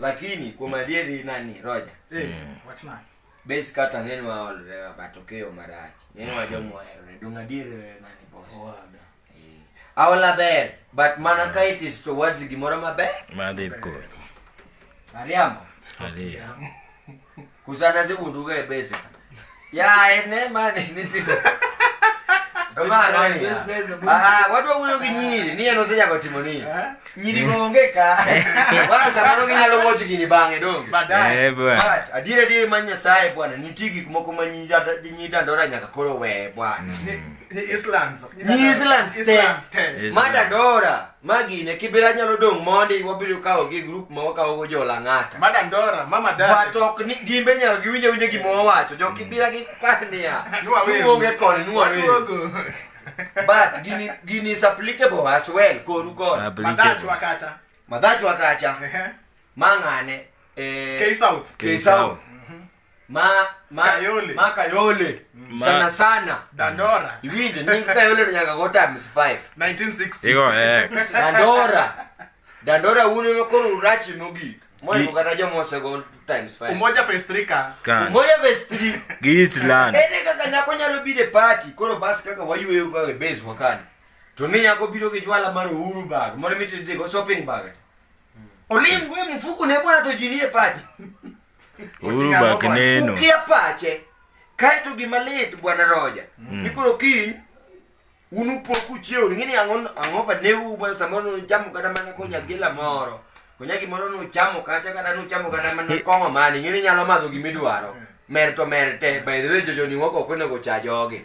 Lakini kuom adieri nani Roger? Eh, mm. wach nani? Base kata ng'eny wa olre wa batokeo marach. Ng'eny wa jomo olre dung adieri nani boss. Owaga. Eh. Aola ber, but mana mm. ka it is towards gimoro maber. Madhi konyo. Mariambo. Mariambo. Kusana sikunduke bese. Ya ene mani niti. Mara ni. Ah, watu wakuyo kinyiri, niye no seja kwa timoni. Eh? Nyiri ngongeka. Wala samano kinyalo ngochi kini bange do. Badai. Eh, bwana. But adire dire manya sai bwana, nitiki kumoko manyida nyida ndora nyaka koro we bwana. Ni Islands. Ni Islands. Islands. Mada dora. ma gine kibira nyalo dong' mondi wabiro kawo gi grup ma wakawo go jola ng'ata mada ndora mama dada but ok ni gimbe nyalo giwinjo winjo gima wawacho jo kibira gi pania nuonge koni nuwawe but gini gini is applicable as well koru koni madachwa kacha madachwa kacha mang'ane eh, K South K South mhm. ma ma kayole ma kayole mm. ma. sana sana dandora iwinje ni kayole ni nyaka gota mis 5 1960 iko ex dandora dandora uno no koro urachi mogi moyo kata jo mose go times 5 umoja festrika umoja festri gisland ene kaka nyako nyalo bide party koro bas kaka wayueyo ka e base wakani to ni nyako biro gi jwala mar uhuru bag moro mitidhi go shopping bag olim gwe mfuku ne bwana to jinie party Uru bak neno. Ukia pache. Kaeto gima lit bwana Roja. Mm. Ni koro kiny unu po ku chiew ni ni angon ango ba ne u bwana samoro no jamu kada mana ko nyagila moro. Ko nyagi moro no chamo kacha kada no chamo kada mana kongo mani ni nyalo madho gimidwaro. Mm. Merto merte by the way jojo ni woko ko ne go chajogi. Mm.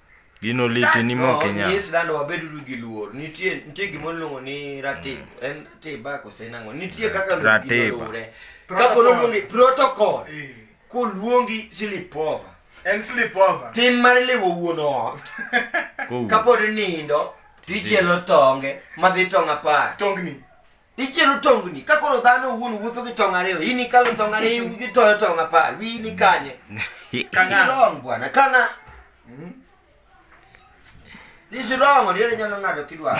Gino liti ni moke nya. Yes dano wabed ru gi luor. Nitie nitie gimo luongo ni ratib. Mm. En tiba ko se nango. Nitie kaka lu gi luore. Ka ko luongi protocol. Eh. Ko luongi silipova. En silipova. Tim mar lewo wuon ot. Ka pod nindo tichielo tonge madhi tong apar. Tongni. Ichielo tongni ka koro dhano owuon wuotho gi tong' ariyo, in ikalo tong' ariyo itoyo tong' apar, wiyi ni kanye? Kang'a. Long bwana, kang'a. Hmm? This wrong, odiero nyalo ng'ado kidwaro.